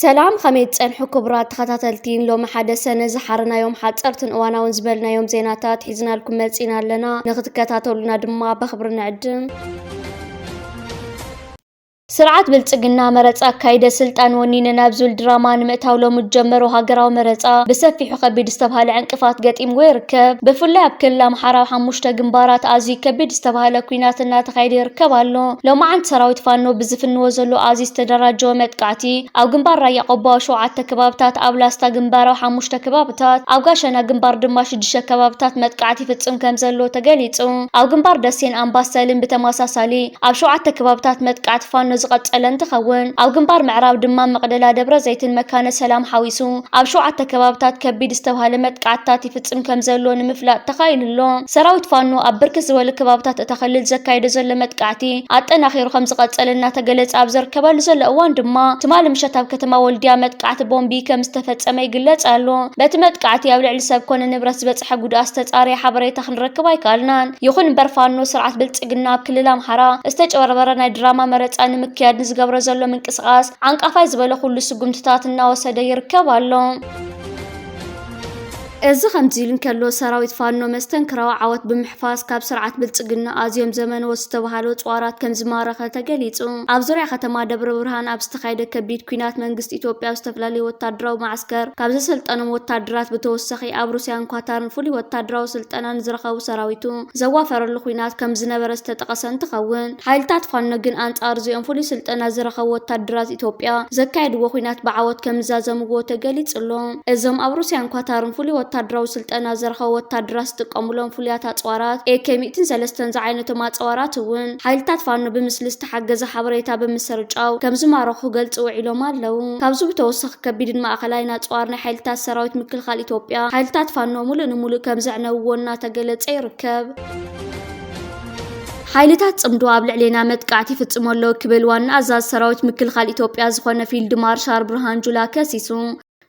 ሰላም ከመይ ትጸንሑ ክቡራት ተኸታተልቲ ሎሚ ሓደ ሰነ ዝሓረናዮም ሓጸርትን እዋናውን ዝበልናዮም ዜናታት ሒዝናልኩም መጺና ኣለና ንክትከታተሉና ድማ በክብሪ ንዕድም ስርዓት ብልፅግና መረፃ ኣካይደ ስልጣን ወኒነ ናብ ዝብል ድራማ ንምእታው ሎሚ ዝጀመሮ ሃገራዊ መረፃ ብሰፊሑ ከቢድ ዝተብሃለ ዕንቅፋት ገጢምዎ ይርከብ። ብፍላይ ኣብ ክልል ኣምሓራ ኣብ ሓሙሽተ ግንባራት ኣዝዩ ከቢድ ዝተብሃለ ኲናት እናተኻየደ ይርከብ ኣሎ። ሎማዓንቲ ሰራዊት ፋኖ ብዝፍንዎ ዘሎ ኣዝዩ ዝተደራጀወ መጥቃዕቲ ኣብ ግንባር ራያ ቆቦ ኣብ ሸውዓተ ከባብታት፣ ኣብ ላስታ ግንባር ኣብ ሓሙሽተ ከባብታት፣ ኣብ ጋሸና ግንባር ድማ ሽዱሽተ ከባብታት መጥቃዕቲ ይፍፅም ከምዘሎ ተገሊፁ። ኣብ ግንባር ደሴን ኣምባሰልን ብተመሳሳሊ ኣብ ሸውዓተ ከባብታት መጥቃዕቲ ፋኖ ዝቐጸለ እንትኸውን፣ ኣብ ግንባር ምዕራብ ድማ መቕደላ፣ ደብረዘይትን መካነ ሰላም ሓዊሱ ኣብ ሸውዓተ ከባብታት ከቢድ ዝተብሃለ መጥቃዕትታት ይፍጽም ከምዘሎ ንምፍላጥ ተኻኢሉ'ሎ። ሰራዊት ፋኖ ኣብ ብርክት ዝበሉ ከባብታት እታ ክልል ዘካይዶ ዘሎ መጥቃዕቲ ኣጠናኺሩ ከምዝቐጸለ እናተገለጸ ኣብ ዘርከበሉ ዘሎ እዋን ድማ ትማሊ ምሸት ኣብ ከተማ ወልድያ መጥቃዕቲ ቦምቢ ከምዝተፈጸመ ይግለጽ ኣሎ። በቲ መጥቃዕቲ ኣብ ልዕሊ ሰብ ኮነ ንብረት ዝበጽሐ ጉድኣት ዝተጻረየ ሓበሬታ ክንረክብ ኣይከኣልናን። ይኹን'ምበር ፋኖ ስርዓት ብልጽ ብልፅግና ኣብ ክልል ኣምሓራ ዝተጭበርበረ ናይ ድራማ መረፃ ንምክያድ ንዝገብሮ ዘሎ ምንቅስቓስ ዓንቃፋይ ዝበለ ኩሉ ስጉምትታት እናወሰደ ይርከብ ኣሎ። እዚ ከምዚ ኢሉ እንከሎ ሰራዊት ፋኖ መስተንክራዊ ዓወት ብምሕፋስ ካብ ስርዓት ብልፅግና ኣዝዮም ዘመነዎት ዝተባሃሉ ፅዋራት ከም ዝማረኸ ተገሊፁ። ኣብ ዙርያ ከተማ ደብረ ብርሃን ኣብ ዝተኻየደ ከቢድ ኲናት መንግስቲ ኢትዮጵያ ኣብ ዝተፈላለዩ ወታደራዊ መዓስከር ካብ ዘሰልጠኖም ወታደራት ብተወሳኺ ኣብ ሩስያን ኳታርን ፍሉይ ወታደራዊ ስልጠና ንዝረኸቡ ሰራዊቱ ዘዋፈረሉ ኹናት ከምዝነበረ ዝተጠቐሰ እንትኸውን፣ ሓይልታት ፋኖ ግን ኣንፃር እዚኦም ፍሉይ ስልጠና ዝረኸቡ ወታደራት ኢትዮጵያ ዘካየድዎ ኹናት ብዓወት ከምዛዘምዎ ተገሊፁ'ሎ። እዞም ኣብ ሩስያን ኳታርን ፍሉይ ወታደራዊ ስልጠና ዝረኸቡ ወታደራት ዝጥቀሙሎም ፍሉያት ኣፅዋራት ኤኬ ሚእትን ሰለስተን ዝዓይነቶም ኣፀዋራት እውን ሓይልታት ፋኖ ብምስሊ ዝተሓገዘ ሓበሬታ ብምስርጫው ከምዝማረኹ ክገልጹ ውዒሎም ኣለው። ካብዚ ብተወሳኺ ከቢድን ማእኸላይን ኣፅዋር ናይ ሓይልታት ሰራዊት ምክልኻል ኢትዮጵያ ሓይልታት ፋኖ ሙሉእ ንሙሉእ ከምዘዕነውዎ እናተገለፀ ይርከብ። ሓይልታት ፅምዶ ኣብ ልዕሌና መጥቃዕቲ ይፍፅሙ ኣለው ክብል ዋና ኣዛዚ ሰራዊት ምክልኻል ኢትዮጵያ ዝኾነ ፊልድ ማርሻል ብርሃን ጁላ ከሲሱ።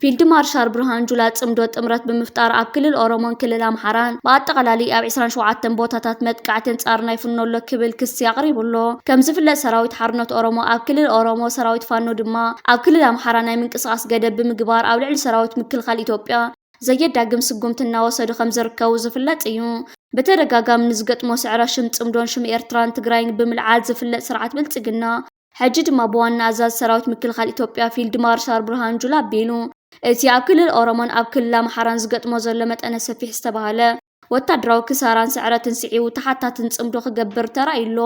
ፊልድ ማርሻል ብርሃኑ ጁላ ፅምዶ ጥምረት ብምፍጣር ኣብ ክልል ኦሮሞን ክልል ኣምሓራን ብኣጠቓላሊ ኣብ ዕስራን ሸውዓተን ቦታታት መጥቃዕቲ ኣንፃርና ይፍኖ ኣሎ ክብል ክሲ ኣቕሪቡ ኣሎ። ከምዝፍለጥ ሰራዊት ሓርነት ኦሮሞ ኣብ ክልል ኦሮሞ፣ ሰራዊት ፋኖ ድማ ኣብ ክልል ኣምሓራ ናይ ምንቅስቓስ ገደብ ብምግባር ኣብ ልዕሊ ሰራዊት ምክልኻል ኢትዮጵያ ዘየዳግም ስጉምቲ እናወሰዱ ከምዝርከቡ ዝፍለጥ እዩ። ብተደጋጋሚ ንዝገጥሞ ስዕረት ሽም ፅምዶን ሽም ኤርትራን ትግራይን ብምልዓል ዝፍለጥ ስርዓት ብልፅግና፣ ሕጂ ድማ ብዋና ኣዛዚ ሰራዊት ምክልኻል ኢትዮጵያ ፊልድ ማርሻል ብርሃኑ ጁላ ኣቢሉ እቲ ኣብ ክልል ኦሮሞን ኣብ ክልል ኣምሓራን ዝገጥሞ ዘሎ መጠነ ሰፊሕ ዝተባህለ ወታደራዊ ክሳራን ስዕረትን ስዒቡ ተሓታትን ጽምዶ ክገብር ተራእዩ ኣሎ።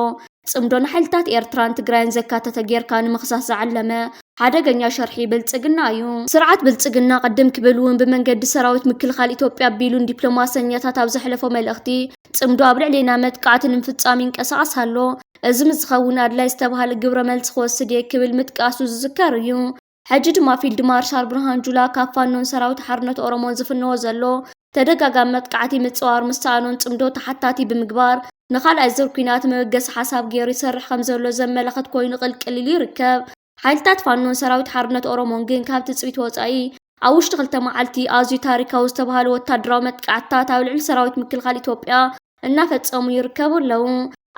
ጽምዶ ንሓይልታት ኤርትራን ትግራይን ዘካተተ ጌርካ ንምኽሳስ ዝዓለመ ሓደገኛ ሸርሒ ብልጽግና እዩ። ስርዓት ብልጽግና ቅድም ክብል እውን ብመንገዲ ሰራዊት ምክልኻል ኢትዮጵያ ኣቢሉ ንዲፕሎማሰኛታት ኣብ ዘሕለፎ መልእኽቲ ጽምዶ ኣብ ልዕሌና መጥቃዕቲ ንምፍጻም ይንቀሳቐስ ኣሎ፣ እዚ ምስ ዝኸውን ኣድላዪ ዝተብሃለ ግብረ መልሲ ክወስድ እየ ክብል ምጥቃሱ ዝዝከር እዩ። ሕጂ ድማ ፊልድ ማርሻል ብርሃኑ ጁላ ካብ ፋኖን ሰራዊት ሓርነት ኦሮሞን ዝፍነዎ ዘሎ ተደጋጋሚ መጥቃዕቲ ምፅዋር ምስ ሰኣኖን ፅምዶ ተሓታቲ ብምግባር ንኻልኣይ ዙር ኲናት መበገሲ ሓሳብ ገይሩ ይሰርሕ ከምዘሎ ዘመላኽት ኮይኑ ቅልቅል ኢሉ ይርከብ። ሓይልታት ፋኖን ሰራዊት ሓርነት ኦሮሞን ግን ካብ ትጽቢት ወጻኢ ኣብ ውሽጢ ክልተ መዓልቲ ኣዝዩ ታሪካዊ ዝተባህሉ ወታደራዊ መጥቃዕትታት ኣብ ልዕሊ ሰራዊት ምክልኻል ኢትዮጵያ እናፈጸሙ ይርከቡ ኣለዉ።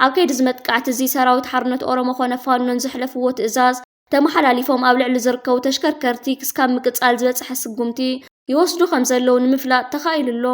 ኣብ ከይዲ እዚ መጥቃዕቲ እዚ ሰራዊት ሓርነት ኦሮሞ ኮነ ፋኖን ዘሕለፍዎ ትእዛዝ ተመሓላሊፎም ኣብ ልዕሊ ዝርከቡ ተሽከርከርቲ ክስካብ ምቅጻል ዝበጽሐ ስጉምቲ ይወስዱ ከም ዘለዉ ንምፍላጥ ተኻኢሉ ኣሎ።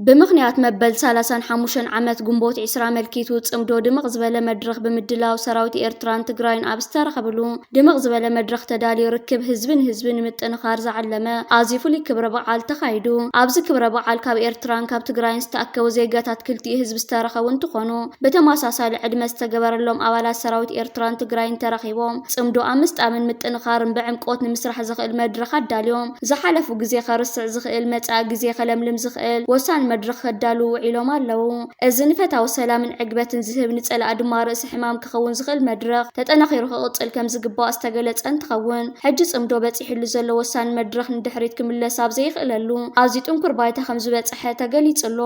ብምኽንያት መበል ሰላሳን ሓሙሸን ዓመት ግንቦት ዒስራ ኣመልኪቱ ጽምዶ ድምቕ ዝበለ መድረኽ ብምድላው ሰራዊት ኤርትራን ትግራይን ኣብ ዝተረኸብሉ ድምቕ ዝበለ መድረኽ ተዳልዩ ርክብ ህዝቢ ንህዝቢ ንምጥንኻር ዝዓለመ ኣዝዩ ፍሉይ ክብረ በዓል ተኻይዱ። ኣብዚ ክብረ በዓል ካብ ኤርትራን ካብ ትግራይን ዝተኣከቡ ዜጋታት ክልቲኡ ህዝቢ ዝተረኸቡ እንትኾኑ ብተመሳሳሊ ዕድመ ዝተገበረሎም ኣባላት ሰራዊት ኤርትራን ትግራይን ተረኺቦም ጽምዶ ኣብ ምስጣምን ምጥንኻርን ብዕምቆት ንምስራሕ ዘኽእል መድረኽ ኣዳልዮም። ዝሓለፉ ግዜ ከርስዕ ዝኽእል፣ መጻኢ ግዜ ከለምልም ዝኽእል ወሳኒ መድረኽ ከዳልዉ ውዒሎም ኣለዉ። እዚ ንፈታዊ ሰላምን ዕግበትን ዝህብ፣ ንጸላኢ ድማ ርእሲ ሕማም ክኸውን ዝኽእል መድረኽ፣ ተጠናኺሩ ክቕጽል ከም ዝግባእ ዝተገለጸ እንትኸውን፣ ሕጂ ጽምዶ በጺሕሉ ዘሎ ወሳኒ መድረኽ ንድሕሪት ክምለስ ኣብ ዘይኽእለሉ ኣዝዩ ጥንኩር ባይታ ከም ዝበጸሐ ተገሊጹ ኣሎ።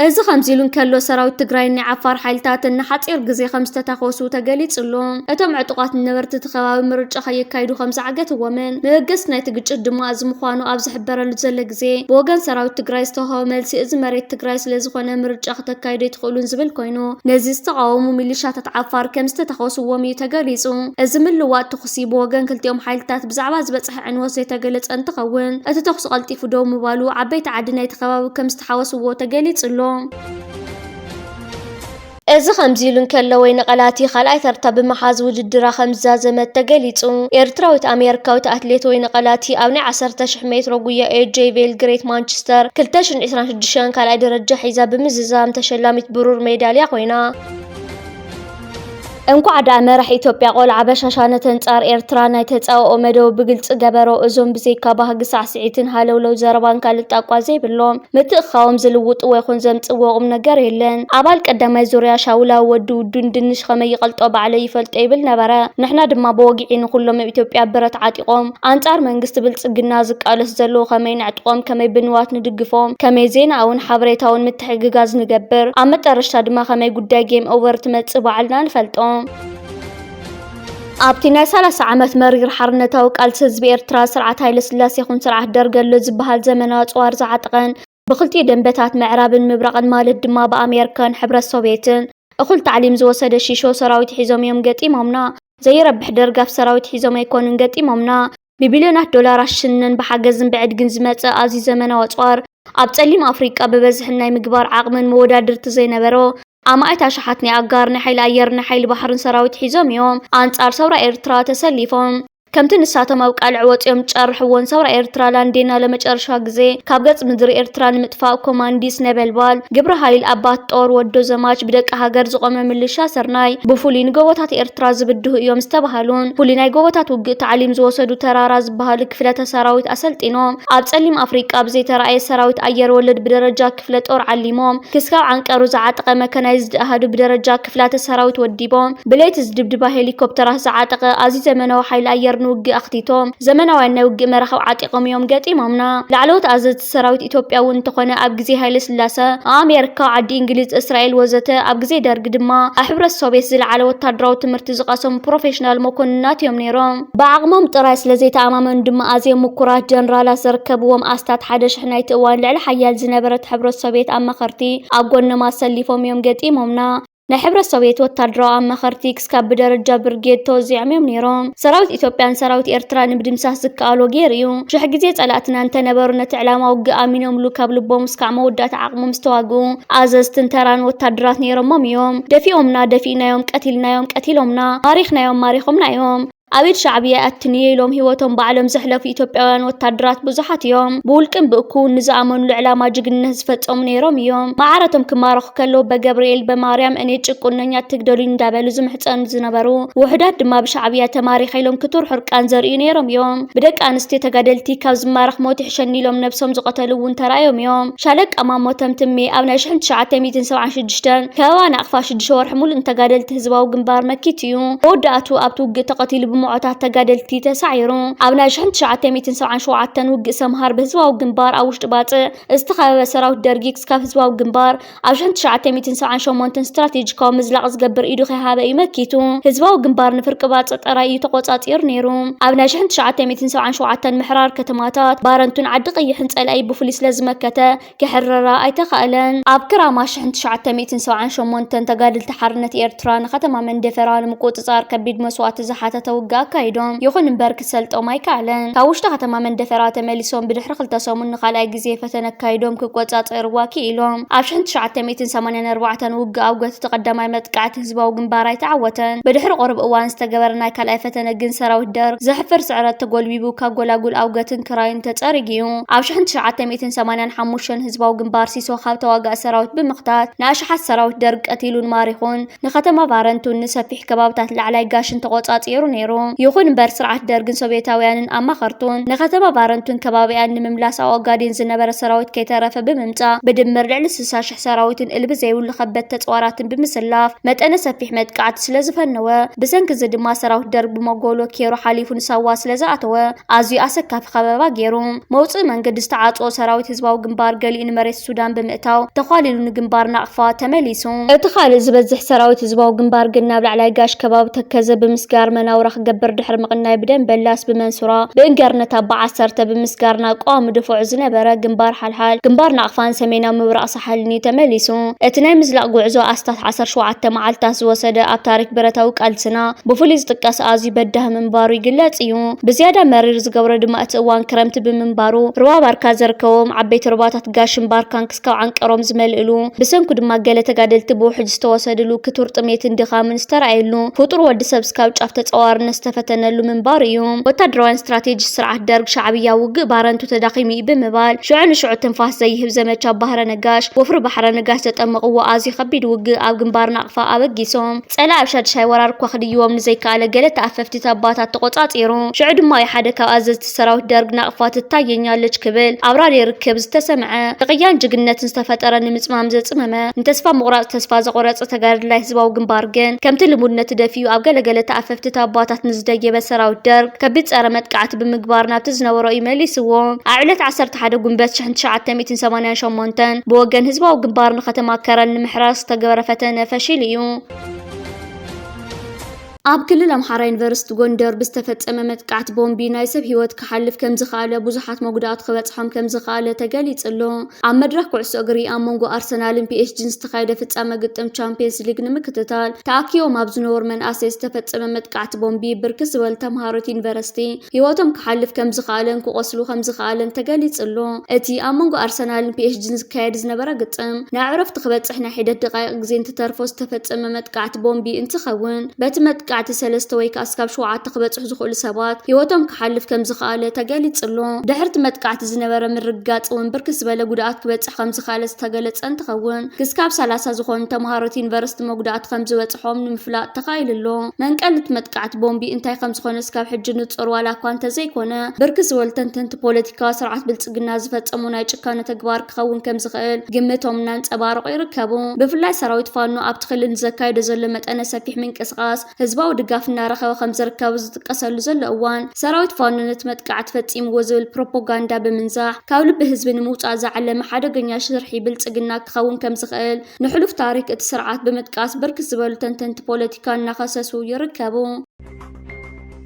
እዚ ከምዚሉ እንከሎ ሰራዊት ትግራይን ናይ ዓፋር ሓይልታትን ንሓፂር ግዜ ከምዝተታኾሱ ተገሊፁ ኣሎ። እቶም ዕጡቓት ንነበርቲ እቲ ከባቢ ምርጫ ከየካይዱ ከምዝዓገትዎምን መበገሲ ናይቲ ግጭት ድማ እዚ ምዃኑ ኣብ ዝሕበረሉ ዘሎ ግዜ ብወገን ሰራዊት ትግራይ ዝተውሃበ መልሲ እዚ መሬት ትግራይ ስለዝኾነ ምርጫ ክተካይዱ ኣይትኽእሉን ዝብል ኮይኑ ነዚ ዝተቓወሙ ሚሊሻታት ዓፋር ከምዝተታኾስዎም እዩ ተገሊፁ። እዚ ምልውዋጥ ተኹሲ ብወገን ክልቲኦም ሓይልታት ብዛዕባ ዝበፅሐ ዕንወት ዘይተገለፀ እንትኸውን፣ እቲ ተኹሲ ቀልጢፉ ደው ምባሉ ዓበይቲ ዓዲ ናይቲ ከባቢ ከምዝተሓወስዎ ተገሊፁ ኣሎ። እዚ ከምዚ ኢሉ እንከሎ፣ ወይኒ ቀላቲ ካልኣይ ተርታ ብምሓዝ ውድድራ ከምዝዛዘመት ተገሊፁ። ኤርትራዊት ኣሜሪካዊት ኣትሌት ወይኒ ቀላቲ ኣብ ናይ ዓሰርተ ሽሕ ሜትሮ ጉያ ኤጄ ቬል ግሬት ማንችስተር ክልተ ሽሕን ዕስራን ሽዱሽተን ካልኣይ ደረጃ ሒዛ ብምዝዛም ተሸላሚት ብሩር ሜዳልያ ኮይና። እንኳዕ ዳኣ መራሕ ኢትዮጵያ ቆልዓ በሻሻ ነተን ጻር ኤርትራ ናይ ተጻብኦ መደቡ ብግልጺ ገበሮ እዞም ብዘይካ ባህጊ ሳዕሲዒትን ሃለውለው ዘረባን ካልእ ጣቋ ዘይብሎም ምትእክካቦም ዝልውጥዎ ይኹን ዘምጽእዎ ቁምነገር የለን ኣባል ቀዳማይ ዙርያ ሻውላዊ ወዲ ውዱ ንድንሽ ኸመይ ይቀልጦ ባዕለይ ይፈልጦ ይብል ነበረ ንሕና ድማ ብወግዒ ንኹሎም እብ ኢትዮጵያ ብረት ዓጢቆም ኣንጻር መንግስቲ ብልጽግና ዝቃለስ ዘለው ኸመይ ነዕጥቆም ከመይ ብንዋት ንድግፎም ከመይ ዜናኣውን ሓበሬታውን ምትሕግጋዝ ንገብር። ኣብ መጠረሽታ ድማ ከመይ ጉዳይ ጌም ኦቨር ትመጽእ ባዕልና ንፈልጦ። ኣብቲ ናይ ሰላሳ ዓመት መሪር ሓርነታዊ ቃልሲ ህዝቢ ኤርትራ፣ ስርዓት ሃይለስላሴ ይኹን ስርዓት ደርግ ኣሎ ዝብሃል ዘመናዊ ኣጽዋር ዝዓጠቐን ብክልቲኡ ደምበታት ምዕራብን ምብራቕን ማለት ድማ ብኣሜርካን ሕብረት ሶቭየትን እኹል ታዕሊም ዝወሰደ ሺሾ ሰራዊት ሒዞም እዮም ገጢሞምና። ዘይረብሕ ደርጋፍ ሰራዊት ሒዞም ኣይኮኑን ገጢሞምና። ብቢልዮናት ዶላራት ሽነን ብሓገዝን ብዕድግን ዝመጸ ኣዝዩ ዘመናዊ ኣጽዋር፣ ኣብ ጸሊም ኣፍሪቃ ብበዝሕን ናይ ምግባር ዓቕምን መወዳድርቲ ዘይነበሮ ኣማኢት ኣሽሓት ናይ ኣጋር ናይ ሓይሊ ኣየርን ናይ ሓይሊ ባሕርን ሰራዊት ሒዞም እዮም ኣንጻር ሰውራ ኤርትራ ተሰሊፎም። ከምቲ ንሳቶም ኣብ ቃልዕ ወጺኦም ዝጨርሕዎን ሰውራ ኤርትራ ላንዴና ለመጨረሻ ግዜ ካብ ገጽ ምድሪ ኤርትራ ንምጥፋእ ኮማንዲስ ነበልባል፣ ግብረ ሃይል ኣባት ጦር ወዶ ዘማች፣ ብደቂ ሃገር ዝቖመ ምልሻ ስርናይ፣ ብፍሉይ ንጎቦታት ኤርትራ ዝብድሁ እዮም ዝተባህሉን ፍሉይ ናይ ጎቦታት ውግእ ታዕሊም ዝወሰዱ ተራራ ዝበሃሉ ክፍለተ ሰራዊት ኣሰልጢኖም ኣብ ጸሊም ኣፍሪቃ ብዘይተራእየ ሰራዊት ኣየር ወለድ ብደረጃ ክፍለ ጦር ዓሊሞም ክስካብ ዓንቀሩ ዝዓጠቐ መከናይዝድ ኣሃዱ ብደረጃ ክፍላተ ሰራዊት ወዲቦም ብለይቲ ዝድብድባ ሄሊኮፕተራት ዝዓጠቐ ኣዝዩ ዘመናዊ ሓይሊ ኣየር ንውግእ ኣኽቲቶም ዘመናውያን ናይ ውግእ መራኽብ ዓጢቖም እዮም ገጢሞምና። ላዕለዎት ኣዘዝቲ ሰራዊት ኢትዮጵያ እውን እንተኾነ ኣብ ግዜ ሃይለስላሰ ኣብ ኣሜርካ፣ ዓዲ እንግሊዝ፣ እስራኤል ወዘተ ኣብ ግዜ ደርጊ ድማ ኣብ ሕብረት ሶቬት ዝለዓለ ወታደራዊ ትምህርቲ ዝቐሰሙ ፕሮፌሽናል መኮንናት እዮም ነይሮም። ብዓቕሞም ጥራይ ስለ ዘይተኣማመኑ ድማ ኣዝዮም ምኩራት ጀነራላት ዘርከብዎም ኣስታት ሓደ ሽሕ ናይቲ እዋን ልዕሊ ሓያል ዝነበረት ሕብረት ሶቭየት ኣማኸርቲ ኣብ ጎኖም ኣሰሊፎም እዮም ገጢሞምና። ናይ ሕብረት ሶቭየት ወታደራዊ ኣማኸርቲ ክስካብ ብደረጃ ብርጌድ ተወዚዖም እዮም ነይሮም። ሰራዊት ኢትዮጵያ ንሰራዊት ኤርትራ ንምድምሳስ ዝከኣሎ ገይሩ እዩ። ሽሕ ግዜ ጸላእትና እንተነበሩ ነቲ ዕላማ ውግእ ኣሚኖምሉ ካብ ልቦም እስካዕ መወዳእታ ዓቕሞም ዝተዋግኡ ኣዘዝትን ተራን ወታደራት ነይሮሞም እዮም። ደፊኦምና ደፊእናዮም ቀቲልናዮም ቀቲሎምና ማሪኽናዮም ማሪኾምና እዮም ኣብ ኢድ ሻዕብያ ኣትንየ ኢሎም ህይወቶም ባዕሎም ዘሕለፉ ኢትዮጵያውያን ወታደራት ብዙሓት እዮም ብውልቅን ብእኩውን ንዝኣመኑሉ ዕላማ ጅግንነት ዝፈጸሙ ነይሮም እዮም ማዓረቶም ክማረኹ ከለዉ በገብርኤል በማርያም እኔ ጭቁነኛ ትግደሉኝ እንዳበሉ ዝምሕጸኑ ዝነበሩ ውሑዳት ድማ ብሻዕብያ ተማሪኸ ኢሎም ክቱር ሕርቃን ዘርእዩ ነይሮም እዮም ብደቂ ኣንስትዮ ተጋደልቲ ካብ ዝማረኽ ሞት ይሕሸኒ ኢሎም ነብሶም ዝቐተሉ እውን ተራእዮም እዮም ሻለቃ ማሞ ተምትሜ ኣብ ናይ ሽሕን ትሽዓተ ሚእትን ሰብዓን ሽዱሽተን ከበባ ናቕፋ ሽዱሽተ ወርሒ ሙሉእ ንተጋደልቲ ህዝባዊ ግንባር መኪቱ እዩ። መወዳእትኡ ኣብቲ ውግእ ተቐቲሉ ብሞዖታት ተጋደልቲ ተሳዒሩ። ኣብ ናይ ሽሕን ትሽዓተ ሚእትን ሰብዓን ሸውዓተን ውግእ ሰምሃር ብህዝባዊ ግንባር ኣብ ውሽጢ ባጽዕ ዝተኸበበ ሰራዊት ደርጊ ክስካብ ህዝባዊ ግንባር ኣብ ሽሕን ትሽዓተ ሚእትን ሰብዓን ሸሞንተን ስትራቴጂካዊ ምዝላቕ ዝገብር ኢዱ ከይሃበ እዩ መኪቱ። ህዝባዊ ግንባር ንፍርቂ ባጽዕ ጥራይ እዩ ተቖጻጺሩ ነይሩ። ኣብ ናይ ሽሕን ትሽዓተ ሚእትን ሰብዓን ሸውዓተን ምሕራር ከተማታት ባረንቱን ዓዲ ቐይሕን ጸላኢ ብፍሉይ ስለ ዝመከተ ክሕረራ ኣይተኻእለን። ኣብ ክራማ ሽሕን ትሽዓተ ሚእትን ሰብዓን ሸሞንተን ተጋደልቲ ሓርነት ኤርትራ ንከተማ መንደፈራ ንምቁጽጻር ከቢድ መስዋእቲ ዝሓተተ ውግእ ኣካይዶም። ይኹን እምበር ክሰልጦም ኣይከኣለን። ካብ ውሽጢ ከተማ መንደፈራ ተመሊሶም ብድሕሪ ክልተ ሰሙን ንኻልኣይ ግዜ ፈተነ ኣካይዶም ክቆጻጸርዋ ክኢሎም። ኣብ ሽሕን ትሽዓተ ሚእትን ሰማንያን ኣርባዕተን ውግእ ኣውገት እቲ ቀዳማይ መጥቃዕቲ ህዝባዊ ግንባር ኣይተዓወተን። ብድሕሪ ቁሩብ እዋን ዝተገበረ ናይ ካልኣይ ፈተነ ግን ሰራዊት ደርግ ዘሕፍር ስዕረት ተጎልቢቡ ካብ ጎላጉል ኣውገትን ክራይን ተጸሪጉ'ዩ። ኣብ ሽሕን ትሽዓተ ሚእትን ሰማንያን ሓሙሽተን ህዝባዊ ግንባር ሲሶ ካብ ተዋጋኢ ሰራዊት ብምኽታት ንኣሽሓት ሰራዊት ደርግ ቀቲሉን ማሪኹን። ንከተማ ባረንቱን ንሰፊሕ ከባብታት ላዕላይ ጋሽን ተቆጻጺሩ ነይሩ። ይኹን እምበር ስርዓት ደርግን ሶቭየታውያንን ኣማኸርቱን ንከተማ ባረንቱን ከባቢኣን ንምምላስ ኣብ ኦጋዴን ዝነበረ ሰራዊት ከይተረፈ ብምምጻእ ብድምር ልዕሊ ስሳ ሽሕ ሰራዊትን እልቢ ዘይብሉ ከበድቲ ተጽዋራትን ብምስላፍ መጠነ ሰፊሕ መጥቃዕቲ ስለ ዝፈነወ፣ ብሰንኪ እዚ ድማ ሰራዊት ደርግ ብመጎሎ ኬሮ ሓሊፉ ንሳዋ ስለ ዝኣተወ ኣዝዩ ኣሰካፊ ከበባ ገይሩ። መውጽኢ መንገዲ ዝተዓጽዎ ሰራዊት ህዝባዊ ግንባር ገሊኡ ንመሬት ሱዳን ብምእታው ተዃሊሉ ንግንባር ናቕፋ ተመሊሱ። እቲ ካልእ ዝበዝሕ ሰራዊት ህዝባዊ ግንባር ግን ናብ ላዕላይ ጋሽ ከባቢ ተከዘ ብምስጋር መናውራ ክገብር ድሕሪ ምቕናይ ብደምበላስ፣ ብመንሱራ፣ ብእንገርነት ኣባ ዓሰርተ ብምስጋር ናብ ቀዋሚ ደፈዑ ዝነበረ ግንባር ይበሃል። ግንባር ናቕፋን ሰሜናዊ ምብራቕ ሳሕልን'ዩ ተመሊሱ። እቲ ናይ ምዝላቕ ጉዕዞ ኣስታት ዓሰርተ ሸውዓተ መዓልታት ዝወሰደ ኣብ ታሪኽ ብረታዊ ቃልስና ብፍሉይ ዝጥቀስ ኣዝዩ በዳሂ ምንባሩ ይግለጽ እዩ። ብዝያዳ መሪር ዝገብሮ ድማ እቲ እዋን ክረምቲ ብምንባሩ ሩባ ባርካ ዘርከቦም ዓበይቲ ሩባታት ጋሽን ባርካን ክስካብ ዓንቀሮም ዝመልእሉ ብሰንኩ ድማ ገለ ተጋደልቲ ብውሕጅ ዝተወሰድሉ ክቱር ጥሜትን ድኻምን ዝተራእየሉ፣ ፍጡር ወዲ ሰብ እስካብ ጫፍ ተጻዋርነት ዝተፈተነሉ ምንባሩ እዩ። ወታደራውያን ስትራቴጂስት ስርዓት ደርግ፣ ሻዕብያ ውግእ ባረንቱ ተዳኺሙ እዩ ብምባል፣ ሽዑ ንሽዑ ትንፋስ ዘይህብ ዘመቻ ባህረ ነጋሽ፣ ወፍሪ ባሕረ ነጋሽ ዘጠመቕዎ ኣዝዩ ከቢድ ውግእ ኣብ ግንባር ናቕፋ ኣበጊሶም፣ ጸላኢ ኣብ ሻድሻይ ወራር እኳ ክድይቦም ንዘይከኣለ ገለ ተኣፈፍቲ ተባታት ተቖጻጺሩ። ሽዑ ድማ እዩ ሓደ ካብ ኣዘዝቲ። ሰራዊት ደርግ ናቕፋ ትታየኛለች ክብል ኣብራሪ ርክብ ዝተሰምዐ ንቕያን ጅግነትን ዝተፈጠረ ንምፅማም ዘፅመመ ንተስፋ ምቑራፅ ተስፋ ዘቖረፀ ተጋድላይ ህዝባዊ ግንባር ግን ከምቲ ልሙድ ነቲ ደፊኡ ኣብ ገለገለ ተኣፈፍቲ ታባታት ንዝደየበ ሰራዊት ደርግ ከቢድ ፀረ መጥቃዕቲ ብምግባር ናብቲ ዝነበሮ እዩ መሊስዎ። ኣብ ዕለት ዓሰርተ ሓደ ጉንበት ሽሕን ትሽዓተ ሚእትን ሰማንያን ሸሞንተን ብወገን ህዝባዊ ግንባር ንከተማ ከረን ንምሕራር ዝተገበረ ፈተነ ፈሺሉ እዩ። ኣብ ክልል ኣምሓራ ዩኒቨርሲቲ ጎንደር ብዝተፈፀመ መጥቃዕቲ ቦምቢ ናይ ሰብ ህይወት ክሓልፍ ከምዝኸኣለ ብዙሓት መጉዳእቱ ክበፅሖም ከምዝኸኣለ ተገሊፁ ኣሎ። ኣብ መድረኽ ኩዕሶ እግሪ ኣብ መንጎ ኣርሰናልን ፒኤስጂን ዝተኻየደ ፍፃመ ግጥም ቻምፒየንስ ሊግ ንምክትታል ተኣኪቦም ኣብ ዝነበሩ መናእሰይ ዝተፈፀመ መጥቃዕቲ ቦምቢ ብርክት ዝበሉ ተምሃሮ'ቲ ዩኒቨርሲቲ ህይወቶም ክሓልፍ ከምዝኸኣለን ክቖስሉ ከምዝኸኣለን ተገሊጹ ኣሎ። እቲ ኣብ መንጎ ኣርሰናልን ፒኤስጂን ዝካየድ ዝነበረ ግጥም፣ ናብ ዕረፍቲ ክበጽሕ ናይ ሒደት ደቓይቕ ግዜ እንትተርፎ ዝተፈጸመ መጥቃዕቲ ቦምቢ እንትኸውን፣ በቲ መጥቃዕቲ ሰለስተ ወይ ከኣ እስካብ ሸውዓተ ክበጽሑ ዝኽእሉ ሰባት ህይወቶም ክሓልፍ ከምዝኸኣለ ተገሊጹ ኣሎ። ድሕሪ'ቲ መጥቃዕቲ ዝነበረ ምርግጋጽ'ውን ብርክት ዝበለ ጉድኣት ክበጽሕ ከምዝኸኣለ ዝተገለጸ እንትኸውን፣ ክስካብ ሰላሳ ዝኾኑ ተምሃሮት ዩኒቨርሲቲ መጉዳእቲ ከምዝበፅሖም ንምፍላጥ ተኻኢሉ ኣሎ። መንቀሊ እቲ መጥቃዕቲ ቦምቢ እንታይ ከምዝኾነ እስካብ ሕጂ ንፁር ዋላ እኳ እንተዘይኮነ፣ ብርክት ዝበሉ ተንተንቲ ፖለቲካ፣ ስርዓት ብልፅግና ዝፈፀሞ ናይ ጭካነ ተግባር ክኸውን ከምዝኽእል ግምቶም እናንፀባረቑ ይርከቡ። ብፍላይ ሰራዊት ፋኖ ኣብቲ ክልል ንዘካይዶ ዘሎ መጠነ ሰፊሕ ምንቅስቓስ፣ ህዝባዊ ድጋፍ እናረኸበ ከምዝርከብ ኣብ ዝጥቀሰሉ ዘሎ እዋን፣ ሰራዊት ፋኖ ነቲ መጥቃዕቲ ፈፂምዎ ዝብል ፕሮፖጋንዳ ብምንዛሕ ካብ ልቢ ህዝቢ ንምውፃእ ዝዓለመ ሓደገኛ ሽርሒ ብልፅግና ክኸውን ከምዝኽእል ንሕሉፍ ታሪክ እቲ ስርዓት ብምጥቃስ ብርክት ዝበሉ ተንተንቲ ፖለቲካ እናኸሰሱ ይርከቡ።